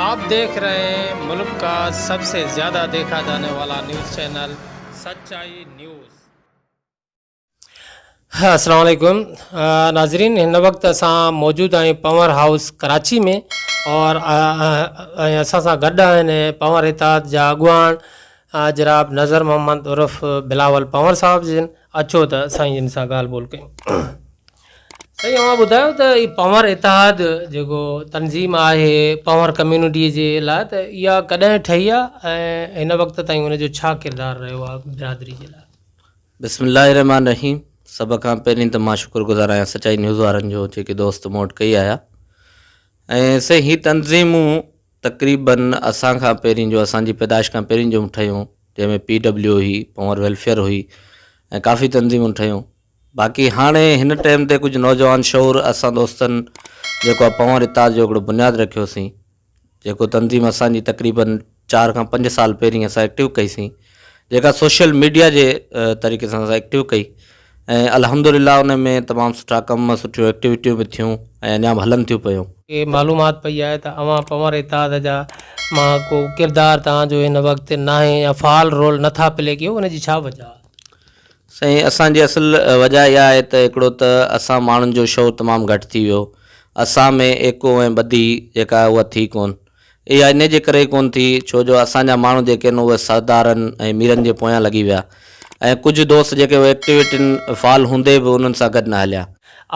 آپ ديکھ رھي ھين ملڪ کا سب سي زياده ديکھا جاني والا نيوز چينل سچائي نيوز. السلام عليڪم ناظرين ھن وقت اسان موجود آھيون پنور ھائوس ڪراچي ۾ اور ۽ اسان سان گڏ آھن پنور اتحاد جا اڳواڻ جناب نظر محمد عرف بلاول پنور صاحب جن اچو ته سائين جن سان ڳالھ ٻولھ ڪيون. سائين اوهان ٻڌايو ته هي پنهور اتحاد جيڪو تنظيم آهي پنهور ڪميونٽي جي لاء ته اها ڪڏهن ٺهي آهي ۽ هن وقت تائين ان جو ڇا ڪردار رهيو آهي برادري جي لاء. بسم الله الرحمٰن الرحيم سڀ کان پهرين ته مان شڪر گذار آهيان سچائي نيوز وارن جو جيڪي دوست مون وٽ ڪئي آيا ۽ سائين هي تنظيمون تقريباً اسان کان پهرين جو اسان جي پيدائش کان پهرين جو ٺهيون جنهن ۾ پي ڊبليو هئي پنهور ويلفيئر هئي ۽ ڪافي تنظيمون ٺهيون باقي هاڻي هن ٽيم تي ڪجهه نوجوان شعور اسان دوستن جيڪو آ پنهور اتحاد جو هڪڙو بنياد رکيو سين جيڪو تنظيم اسان جي تقريباً چار کان پنج سال پهرين اسان ايڪٽو ڪئي سين جيڪا سوشل ميڊيا جي طريقي سان اسان ايڪٽو ڪئي ۽ الحمدلله ان ۾ تمام سٺا ڪم سٺيون ايڪٽيويٽيون به ٿيون ۽ اڃا به هلن ٿيون پيون. کي معلومات پئي آهي ته اوهان پنهور اتحاد جا مان ڪو ڪردار توهان جو هن وقت ناهي يا فعال رول نٿا پلي ڪيو ان جي ڇا وجه آ؟ سائين اسان جي اصل وجه اها آهي ته هڪڙو ته اسان ماڻهن جو شعور تمام گهٽ ٿي ويو اسان ۾ ايڪو ۽ ٻڌي جيڪا آهي اها ٿي ڪون اها انهي جي ڪري ئي ڪون ٿي ڇو جو اسان جا ماڻهو جيڪي آهن اهي سردارن ۽ ميرن جي پويان لڳي ويا ۽ ڪجهه دوست جيڪي اهي ايڪٽيوٽين فعال هوندي به انهن سان گڏ نه هليا.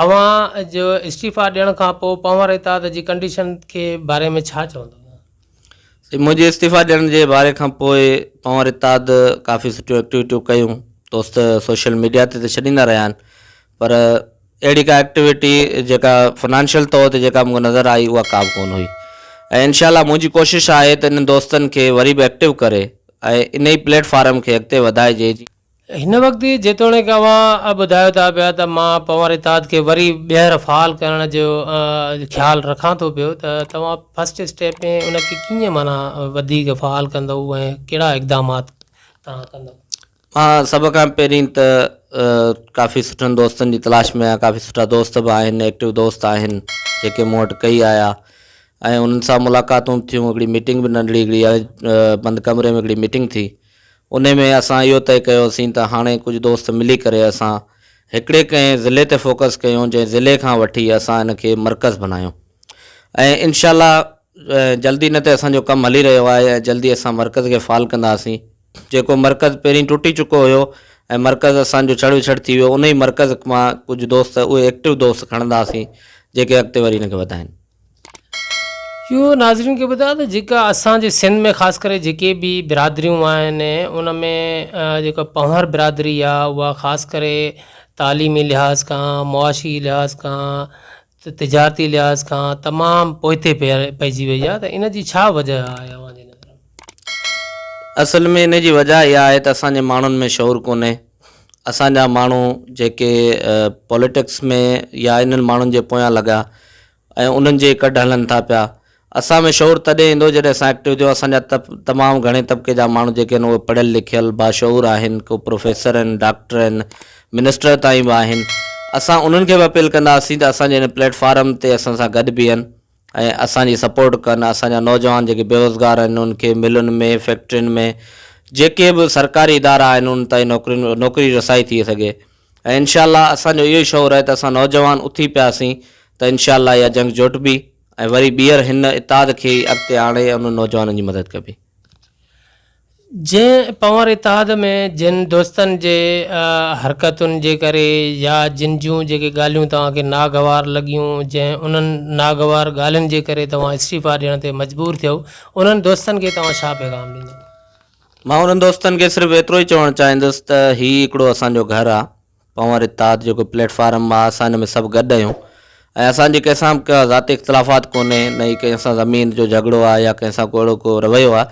اوهان جو استعيفا ڏيڻ کان پوء پنهور اتحاد جي ڪنڊيشن کي باري ۾ ڇا چوندو؟ منهنجي استعيفيٰ ڏيڻ جي باري کان پوء پنهور اتحاد ڪافي سٺيون ايڪٽيوٽيون ڪيون، دوست سوشل ميڊيا تي ته ڇڏيندا رهيا آهن پر اهڙي ڪا ايڪٽيوٽي جيڪا فنانشل طور تي جيڪا مون کي نظر آئي اها ڪا به ڪونه هئي ۽ انشاء الله منهنجي ڪوشش آهي ته انهن دوستن کي وري به ايڪٽيو ڪري ۽ انهي پليٽ فارم کي اڳتي وڌائجي جيئن هن وقت جيتوڻيڪ اوهان ٻڌايو ٿا پيا ته مان پنهور اتحاد کي وري ٻيهر فعال ڪرڻ جو خيال رکان ٿو پيو ته توهان فرسٽ اسٽيپ ۾ ان کي ڪيئن معنيٰ وڌيڪ فعال ڪندؤ ۽ ڪهڙا اقدامات توهان ڪندؤ؟ مان سڀ کان پهرين ته ڪافي سٺن دوستن جي تلاش ۾ آهيان ڪافي سٺا دوست به آهن ايڪٽو دوست آهن جيڪي مون وٽ ڪئي آيا ۽ انهن سان ملاقاتون ٿيون هڪڙي ميٽنگ به ننڍڙي هڪڙي بند ڪمري ۾ هڪڙي ميٽنگ ٿي انهي ۾ اسان اهو طئي ڪيوسين ته هاڻي ڪجهه دوست ملي ڪري اسان هڪڙي ڪنهن ضلعي تي فوڪس ڪيون جنهن ضلعي کان وٺي اسان ان کي مرڪز بنايون ۽ انشاء الله جلدي نه ته اسان جو ڪم هلي رهيو آهي ۽ جلدي اسان مرڪز کي فعال ڪنداسين جيڪو مرڪز پهرين ٽٽي چڪو هيو ۽ مرڪز اسان جو ڇڙ وڇڙ ٿي ويو انهي مرڪز مان ڪجهه دوست اهي ايڪٽو دوست کڻنداسين جيڪي اڳتي وري ان کي وڌائين. اهو ناظرين کي ٻڌايان ته جيڪا اسان جي سنڌ ۾ خاص ڪري جيڪي به برادريون آهن ان ۾ جيڪا پنهور برادري آهي اها خاص ڪري تعليمي لحاظ کان معاشي لحاظ کان تجارتي لحاظ کان تمام پوئتي پئجي وئي آهي ته ان جي ڇا وجه آهي اوهان جي نظر ۾؟ اصل ۾ ان جي وجه اها آهي ته اسان جي ماڻهن ۾ شعور ڪونهي اسان جا ماڻهو جيڪي پوليٽڪس ۾ يا انهن ماڻهن جي پويان لڳا ۽ انهن جي ڪڍ هلن ٿا پيا. اسان ۾ شعور تڏهن ايندو جڏهن اسان ايڪٽو ٿيون. اسان جا تمام گهڻي طبقي جا ماڻهو جيڪي آهن اهي پڙهيل لکيل باشعور آهن. ڪو پروفيسر آهن، ڊاڪٽر آهن، منسٽر تائين به آهن. اسان انهن کي به اپيل ڪنداسين ته اسان جي هن پليٽ فارم تي اسان سان گڏ بيهن. ۽ اسان جي سپورٽ ڪن اسان جا نوجوان جيڪي بيروزگار آهن انهن کي ملن ۾ فيڪٽرين ۾ جيڪي به سرڪاري ادارا آهن انهن تائين نوڪرين نوڪري رسائي ٿئي سگهي ۽ انشاء الله اسان جو اهو ئي شعور آهي ته اسان نوجوان اٿي پياسين ته انشاء الله اها جنگ جوٽبي ۽ وري ٻيهر هن اتحاد کي ئي اڳتي آڻي انهن نوجوانن جي مدد ڪبي. جنهن پنهور اتحاد ۾ جن دوستن جي حرڪتن جي ڪري يا جن جون جيڪي ڳالهيون توهان کي ناگوار لڳيون، جنهن انهن ناگوار ڳالهين جي ڪري توهان استعيفا ڏيڻ تي مجبور ٿيؤ، انهن دوستن کي توهان ڇا پيغام ڏيندؤ؟ مان انهن دوستن کي صرف ايترو ئي چوڻ چاهيندس ته هي هڪڙو اسان جو گهر آ. پنهور اتحاد جيڪو پليٽ فارم آ اسان ان ۾ سڀ گڏ آهيون ۽ اسان جي ڪنهن سان به ڪا ذاتي اختلافات ڪونهي نه ئي ڪنهن سان زمين جو جهڳڙو آ يا ڪنهن سان ڪو اهڙو ڪو رويو آ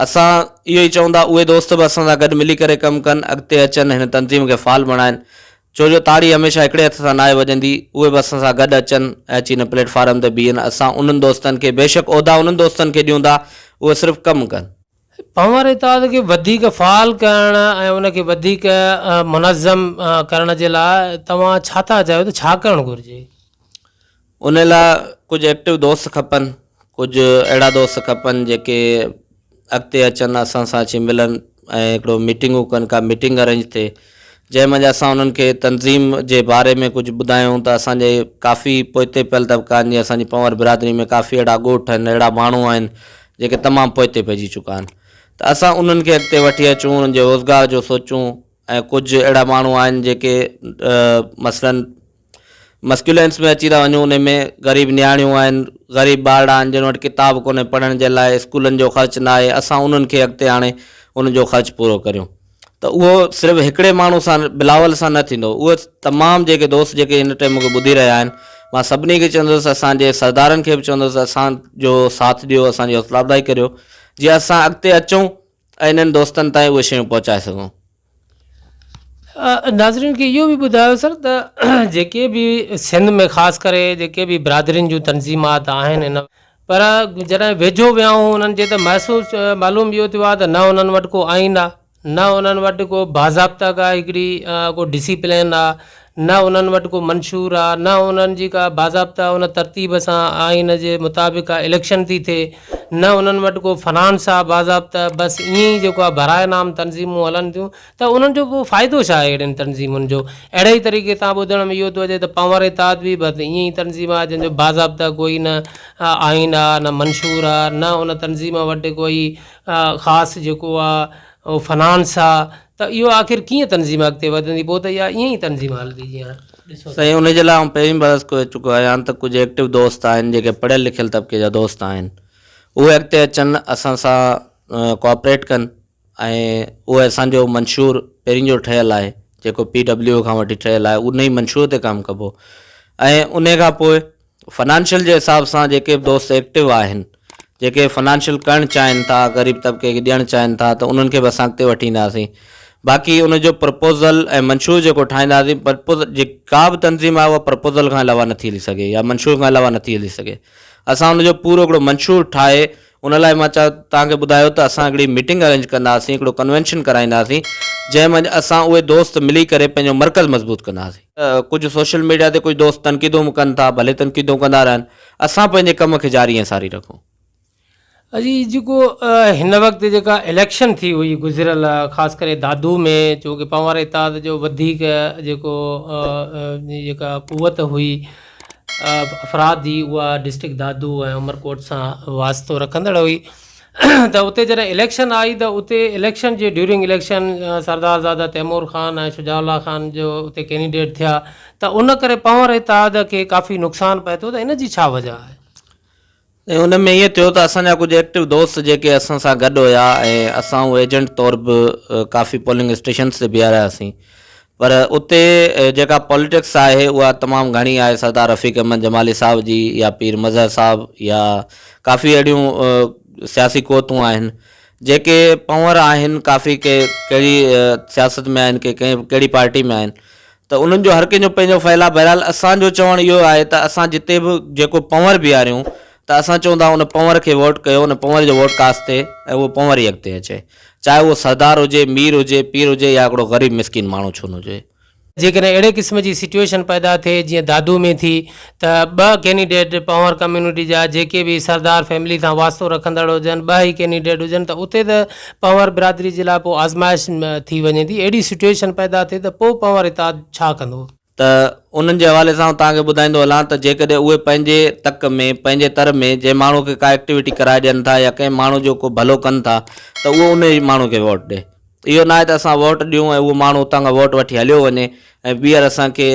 اسان اهو ئي چئون ٿا اهي دوست به اسان سان گڏ ملي ڪري ڪم ڪن اڳتي اچن هن تنظيم کي فعال بڻائن ڇو جو تاڙي هميشه هڪڙي هٿ سان ناهي وڄندي اهي به اسان سان گڏ اچن ۽ اچي هن پليٽ فارم تي بيهن اسان انهن دوستن کي بيشڪ عهدا انهن دوستن کي ڏيون ٿا اهي صرف ڪم ڪن. پنهور اتحاد کي وڌيڪ فعال ڪرڻ ۽ ان کي وڌيڪ منظم ڪرڻ جي لاء توهان ڇا ٿا چاهيو ته ڇا ڪرڻ گهرجي؟ ان لاء ڪجهه ايڪٽو دوست کپن، ڪجهه اهڙا دوست کپن جيڪي اڳتي اچن اسان سان اچي ملن ۽ هڪڙو ميٽنگون ڪن ڪا ميٽنگ ارينج ٿئي جنهن منجهه اسان انهن کي تنظيم جي باري ۾ ڪجهه ٻڌايون ته اسان جي ڪافي پوئتي پيل طبقا آهن جيئن اسان جي پنهور برادري ۾ ڪافي اهڙا ڳوٺ آهن اهڙا ماڻهو آهن جيڪي تمام پوئتي پئجي چڪا آهن ته اسان انهن کي اڳتي وٺي اچون انهن جي روزگار جو سوچون ۽ ڪجهه اهڙا ماڻهو آهن جيڪي مثلاً مسڪيولينس ۾ اچي ٿا وڃون ان ۾ غريب نياڻيون آهن غريب ٻارڙا آهن جن وٽ ڪتاب ڪونهي پڙهڻ جي لاء اسڪولن جو خرچ ناهي اسان انهن کي اڳتي آڻي انهن جو خرچ پورو ڪريون ته اهو صرف هڪڙي ماڻهو سان بلاول سان نه ٿيندو اهي تمام جيڪي دوست جيڪي هن ٽئم مونکي ٻڌي رهيا آهن مان سڀني کي چوندس اسان جي سردارن کي به چوندس اسان جو ساٿ ڏيو اسان جي حوصلا افزائي ڪريو جيئن اسان اڳتي اچون ۽ انهن دوستن تائين اهي شيون پهچائي سگهون. ناظرين کي اهو به ٻڌايو سر ته جيڪي به سنڌ ۾ خاص ڪري جيڪي به برادرين جون تنظيمات آهن ان پر جڏهن ويجهو ويائون انهن جي ته محسوس معلوم اهو ٿيو آهي ته نه انهن وٽ ڪو آئين آهي، نه انهن وٽ ڪو باضابطه ڪا هڪڙي ڪو ڊسيپلين آهي، نه انهن وٽ ڪو منشور آهي، نه انهن جي ڪا باضابطه ان ترتيب سان آئين جي مطابق ڪا اليڪشن ٿي ٿئي، نه انهن وٽ ڪو فنانس آهي باضابطه، بس ائين ئي جيڪو آهي برائي نام تنظيمون هلن ٿيون. ته انهن جو پوء فائدو ڇا آهي اهڙين تنظيمن جو؟ اهڙي ئي طريقي سان ٻڌڻ ۾ اهو ٿو اچي ته پنهور اتحاد به بس ائين ئي تنظيم آهي جنهن جو باضابطه ڪوئي نه آئين آ نه منشور آ نه ان تنظيم وٽ ڪوئي خاص جيڪو آ اهو فنانس آ ته اهو آخر ڪيئن تنظيم اڳتي وڌندي پوء ته اها ائين ئي تنظيم هلندي جيئن ڏسو سائين ان جي لاء آئون پهرين به عرض ڪوئي چڪو آهيان ته ڪجهه ايڪٽو دوست آهن جيڪي پڙهيل لکيل طبقي جا دوست آهن اهي اڳتي اچن اسان سان ڪوآپريٽ ڪن ۽ اهو اسان جو منشور پهرين جو ٺهيل آهي جيڪو پي ڊبليو کان وٺي ٺهيل آهي ان ئي منشور تي ڪم ڪبو ۽ انهي کان پوء فنانشل جي حساب سان جيڪي به دوست ايڪٽو آهن جيڪي فنانشل ڪرڻ چاهين ٿا غريب طبقي کي ڏيڻ چاهين ٿا ته انهن کي به اسان اڳتي وٺي اينداسين باقي ان جو پرپوزل ۽ منشور جيڪو ٺاهينداسين پرپوز جي ڪا به تنظيم آهي اها پرپوزل کان علاوه نٿي هلي سگهي يا منشور کان علاوه نٿي هلي سگهي اسان ان جو پورو هڪڙو منشور ٺاهي ان لاء مان توهان کي ٻڌايو ته اسان هڪڙي ميٽنگ ارينج ڪنداسين، هڪڙو ڪنوينشن ڪرائينداسين، جنهن منجهه اسان اهي دوست ملي ڪري پنهنجو مرڪز مضبوط ڪنداسين. ڪجهه سوشل ميڊيا تي ڪجهه دوست تنقيدون به ڪن ٿا، ڀلي تنقيدون ڪندا رهن، اسان پنهنجي ڪم کي جاري ۽ ساري رکون. اڄ جيڪو هن وقت جيڪا اليڪشن ٿي هئي گذريل خاص ڪري دادو ۾ چونڪه پنهوار اتحاد جو وڌيڪ جيڪو جيڪا قوت هئي. افراد جي اها ڊسٽرڪٽ دادو ۽ عمرڪوٽ سان واسطو رکندڙ هئي ته اتي جڏهن اليڪشن آئي ته اتي اليڪشن جي ڊيورنگ اليڪشن سردار زاده تيمور خان ۽ شجاع الله خان جو اتي ڪينڊيڊيٽ ٿيا ته ان ڪري پنهور اتحاد کي ڪافي نقصان پهتو ته ان جي ڇا وجهه آهي؟ ۽ ان ۾ ائين ٿيو ته اسان جا ڪجهه ايڪٽو دوست جيڪي اسان سان گڏ هيا ۽ اسان هو ايجنٽ طور به ڪافي پولنگ اسٽيشنز تي بيهارياسين پر اتي جيڪا پاليٽڪس آهي اها تمام گهڻي آهي سردار رفيق احمد جمالي صاحب جي يا پير مظهر صاحب يا ڪافي اهڙيون سياسي قوتون آهن جيڪي پنور آهن ڪافي ڪي ڪهڙي سياست ۾ آهن ڪي ڪهڙي پارٽي ۾ آهن ته انهن جو هر ڪنهن جو پنهنجو فعل آهي بهرحال اسان جو چوڻ اهو آهي ته اسان جتي به جيڪو پنور بيهاريون ته اسان چئون ٿا ان پنور کي ووٽ ڪيو ان پنور جو ووٽ ڪاس ٿئي ۽ اهو پنور ئي اڳتي اچي چاهي اهو سردار هجي مير هجي پير هجي يا هڪڙو غريب مسڪين ماڻهو ڇو نه هجي. جيڪڏهن اهڙي قسم جي سچوئيشن پيدا ٿئي جيئن دادو ۾ ٿي ته ٻه ڪينڊيڊيٽ پنهور ڪميونٽي جا جيڪي به سردار فيملي سان واسطو رکندڙ هجن ٻه ئي ڪينڊيڊيٽ هجن ته اتي ته پنهور برادري جي لاء پوء آزمائش ٿي وڃي ٿي اهڙي سٽوئيشن پيدا ٿئي ته پوء پنهور اتحاد ڇا ڪندو؟ ته انهن جي حوالي سان آئون توهان کي ٻڌائيندو هلان ته جيڪڏهن اهي پنهنجي تڪ ۾ پنهنجي تر ۾ جنهن ماڻهو کي ڪا ايڪٽيوٽي ڪرائي ڏين ٿا يا ڪنهن ماڻهو جو ڪو ڀلو ڪن ٿا ته اهو انهي ماڻهو کي ووٽ ڏي اهو ناهي ته اسان ووٽ ڏيون ۽ اهو ماڻهو اتان کان ووٽ وٺي هليو وڃي ۽ ٻيهر اسان کي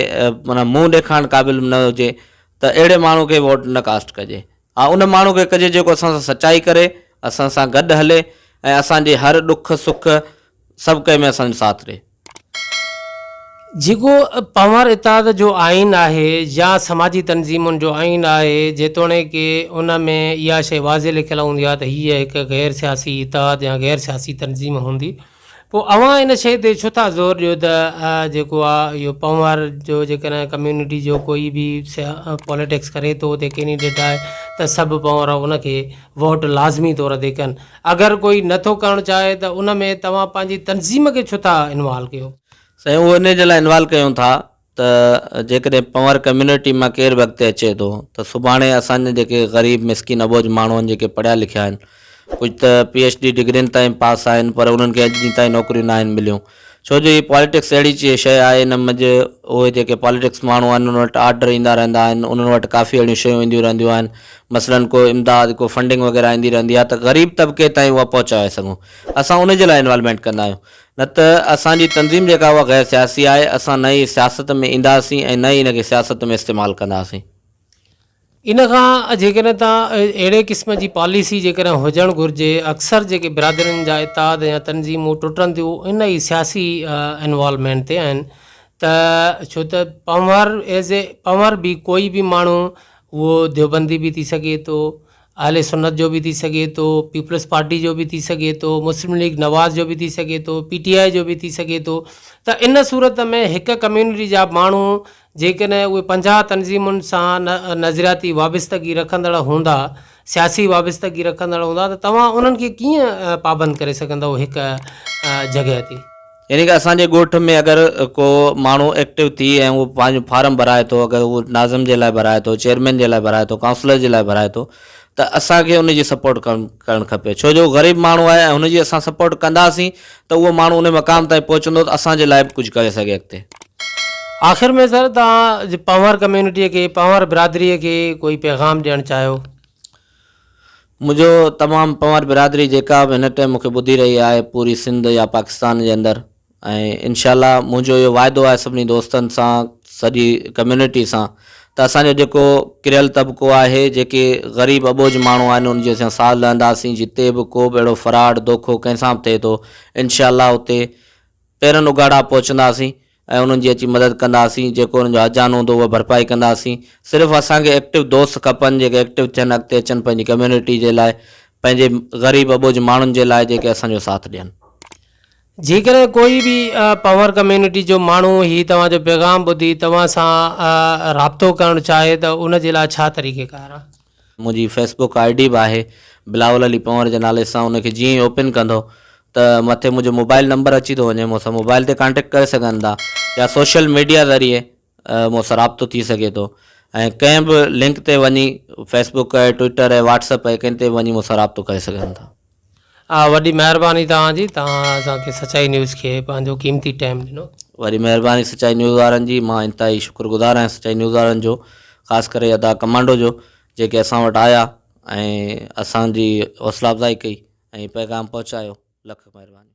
معنيٰ منهن ڏيکارڻ قابل به نه هجي ته اهڙي ماڻهو کي ووٽ نه ڪاسٽ ڪجي. ها ان ماڻهو کي ڪجي جيڪو اسان سان سچائي ڪري، اسان سان گڏ هلي ۽ اسان جي هر ڏک سک سڀ ڪنهن ۾ اسان جو ساٿ ڏي. جيڪو پنهور اتحاد جو آئين آهي يا سماجي تنظيمن جو آئين آهي، جيتوڻيڪ ان ۾ اها شيء واضح لکيل هوندي آهي ته هيء هڪ غير سياسي اتحاد يا غير سياسي تنظيم هوندي، پوء اوهان ان شيء تي ڇو ٿا زور ڏيو ته جيڪو آ اهو پنهور جو جيڪڏهن ڪميونٽي جو ڪوئي به پوليٽڪس ڪري ٿو اتي ڪينڊيڊيٽ آهي ته سڀ پنهور ان کي ووٽ لازمي طور تي ڪن، اگر ڪوئي نه ٿو ڪرڻ چاهي ته ان ۾ توهان پنهنجي تنظيم کي ڇو ٿا انوالو ڪيو؟ سائين اهو انهي جي لاء انوالو ڪيون ٿا ته جيڪڏهن پنور ڪميونٽي مان ڪير به اڳتي اچي ٿو ته سڀاڻي اسان جا جيڪي غريب مسڪين اٻوجهه ماڻهو آهن جيڪي پڙهيا لکيا آهن ڪجهه ته پي ايڇ ڊي ڊگرين تائين پاس آهن پر انهن کي اڄ ڏينهن تائين نوڪريون ناهن مليون ڇو جو هي پاليٽڪس اهڙي چي شيء آهي ان مجهه اهي جيڪي پاليٽڪس ماڻهو آهن انهن وٽ آرڊر ايندا رهندا آهن انهن وٽ ڪافي اهڙيون شيون اينديون رهنديون آهن مثلاً ڪو امداد ڪو فنڊنگ وغيره ايندي رهندي آهي ته غريب طبقي تائين اها پهچائي سگهون اسان انهي جي لاء انوالومينٽ ڪندا آهيون نه ته اسان جي تنظيم جيڪا اها غير سياسي آهي، اسان نه ئي سياست ۾ اينداسين ۽ نه ئي ان کي سياست ۾ استعمال ڪنداسين. ان کان جيڪڏهن ته اهڙي قسم جي پاليسي جيڪڏهن هجڻ گهرجي، اڪثر جيڪي برادرين جا اتحاد يا تنظيمون ٽٽن ٿيون ان ئي سياسي انوالومينٽ تي آهن ته ڇو ته پنهور ايز اي پنهور به ڪوئي به ماڻهو اهو ديوبندي به ٿي سگهي ٿو اهل سنت جو به ٿي سگهي ٿو، پيپلز پارٽي جو به ٿي سگهي ٿو، مسلم ليگ نواز جو به ٿي سگهي ٿو، پي ٽي آء جو به ٿي سگهي ٿو ته ان صورت ۾ هڪ ڪميونٽي جا ماڻهو جيڪڏهن اهي پنجاهه تنظيمن سان نظرياتي وابستگي رکندڙ هوندا، سياسي وابستگي رکندڙ هوندا ته توهان انهن کي ڪيئن پابند ڪري سگهندؤ هڪ جڳهه تي. يعني ڪه اسان جي ڳوٺ ۾ اگر ڪو ماڻهو ايڪٽو ٿي ۽ اهو پنهنجو فارم ڀرائي ٿو اگر اهو ناظم جي لاء ڀرائي ٿو چيئرمين جي لاء ڀرائي ٿو ڪائونسلر جي لاء ڀرائي ٿو ته اسان کي ان جي سپورٽ ڪرڻ کپي ڇو جو غريب ماڻهو آهي ۽ هن جي اسان سپورٽ ڪنداسين ته اهو ماڻهو ان مقام تائين پهچندو ته اسان جي لاء به ڪجهه ڪري سگهي اڳتي. آخر ۾ سر توهان پنهور ڪميونٽي کي پنهور برادري کي ڪوئي پيغام ڏيڻ چاهيو. منهنجو تمام پنوار برادري جيڪا به هن ٽئم مون کي ٻڌي رهي آهي پوري سنڌ يا پاڪستان جي اندر ۽ انشاء الله منهنجو اهو واعدو آهي سڀني دوستن سان سڄي ڪميونٽي سان ته اسان جو جيڪو ڪريل طبقو آهي جيڪي غريب اٻوجهه ماڻهو آهن ان جي اسان ساٿ لهنداسين جتي به ڪو به اهڙو فراڊ دوکو ڪنهن سان به ٿئي ٿو انشاء الله اتي پيرن اگهاڙا پهچنداسين ۽ انهن جي اچي مدد ڪنداسين جيڪو انهن جو هرجان هوندو اها ڀرپائي ڪنداسين صرف اسان کي ايڪٽو دوست کپن جيڪي ايڪٽو ٿين اڳتي اچن پنهنجي ڪميونٽي جي لاء پنهنجي غريب اٻوجهه ماڻهن جي لاء جيڪي اسان جو ساٿ ڏين. جيڪڏهن ڪوئي به پنهور ڪميونٽي جو ماڻهو هي توهان جو پيغام ٻڌي توهان سان رابطو ڪرڻ چاهي ته ان جي لاء ڇا طريقيڪار آهي. منهنجي فيس بوڪ آئي ڊي به آهي بلاول علي پنور جي نالي سان ان کي جيئن ئي اوپن ڪندو ته مٿي منهنجو موبائل نمبر اچي ٿو وڃي مون سان موبائل تي ڪانٽيڪٽ ڪري سگهن ٿا يا سوشل ميڊيا ذريعي مون سان رابطو ٿي سگهي ٿو ۽ ڪنهن به لنڪ تي وڃي فيس بوڪ آهي ٽوئيٽر آهي واٽس اپ آهي ڪنهن تي به وڃي مون سان رابطو ڪري سگهن ٿا آ وڏي مهرباني توهان جي توهان اسان کي سچائي نيوز کي پنهنجو قيمتي ٽيم ڏنو. وڏي مهرباني سچائي نيوز وارن جي مان انتهائي شڪر گذار آهيان سچائي نيوز وارن جو خاص ڪري ادا ڪمانڊو جو جيڪي اسان وٽ آيا ۽ اسان جي حوصلا افزائي ڪئي ۽ پيغام پهچايو لک مهرباني.